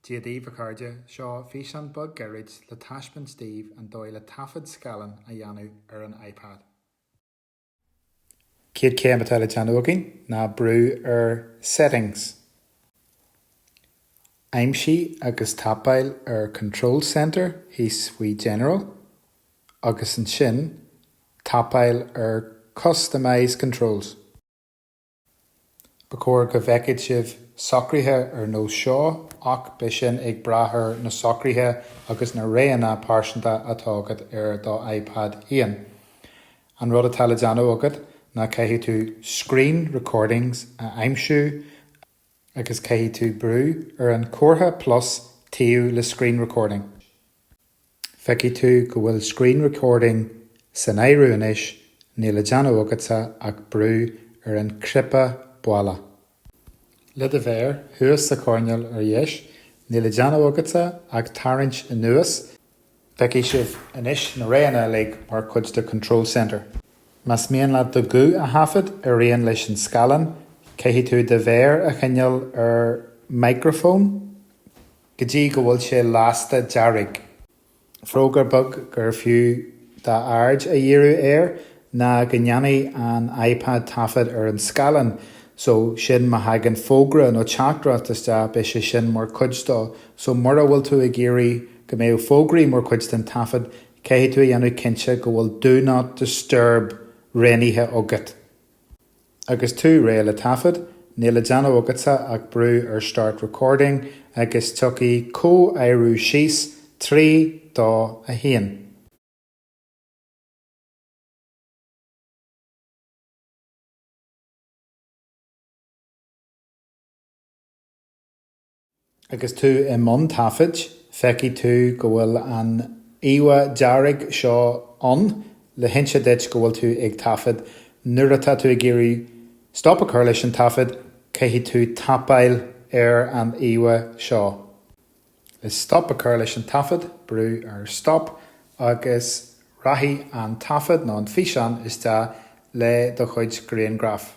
Dia daoibh a chairde, seo físeán beag gairid le taispeáint daoibh an dóigh le taifead scáileáin a dhéanamh ar an iPad. Céad céim atá le déanamh againn ná brú ar Settings. Aimsigh agus tapáil ar Control Center thíos faoi General agus ansin tapáil ar Customize Controls. Ba chóir go bhfeicfeadh sibh socruithe ar nós seo ach beidh sin ag brath ar na socruithe agus na roghanna pearsanta atá agat ar do iPad féin. An rud atá le déanamh agat ná caithfidh tú Screen Recordings a aimsiú agus caithfidh tú brú ar an comhartha plus taobh le Screen Recording. Feicfidh tú go bhfuil Screen Recording san áireamh anois, níl le déanamh agatsa ach brú ar an cnaipe baile. Le do mhéar thuas sa choirneál ar dheis, níl le déanamh agatsa ach tarraingt anuas, feicfidh sibh anois na roghanna uilig mar chuid de Control Center. Más mian leat do ghuth a thaifead ar aon leis an scáileán, caithfidh tú do mhéar a choinneáil ar Microphone, go dtí go bhfuil sé lasta dearg. Fógra beag gur fiú d'aird a dhíriú air ná go ndéanfaidh an iPad taifead ar an scáileán so sin má thagann fógra nó teachtaireacht isteach, beidh sé sin mar chuid dó. So mura bhfuil tú ag iarraidh go mbeadh fógraí mar chuid den taifead, caithfidh tú a dhéanamh cinnte go bhfuil Do Not Disturb roghnaithe agat. Agus tú réidh le taifead, níl le déanamh agatsa ach brú ar Start Recording agus tiocfaidh comhaireamh síos. Trí, dó, a haon. Agus tú i mbun taifid, feicfidh tú go bhfuil an íomhá dearg seo ann le hinse duit go bhfuil tú ag taifead. Nuair atá tú ag iarraidh stop a chur leis an taifead, caithfidh tú tapáil ar an íomhá seo. Le stop a chur leis an taifead, brú ar Stop agus rachaidh an taifead nó an físeán isteach le do chuid grianghraf.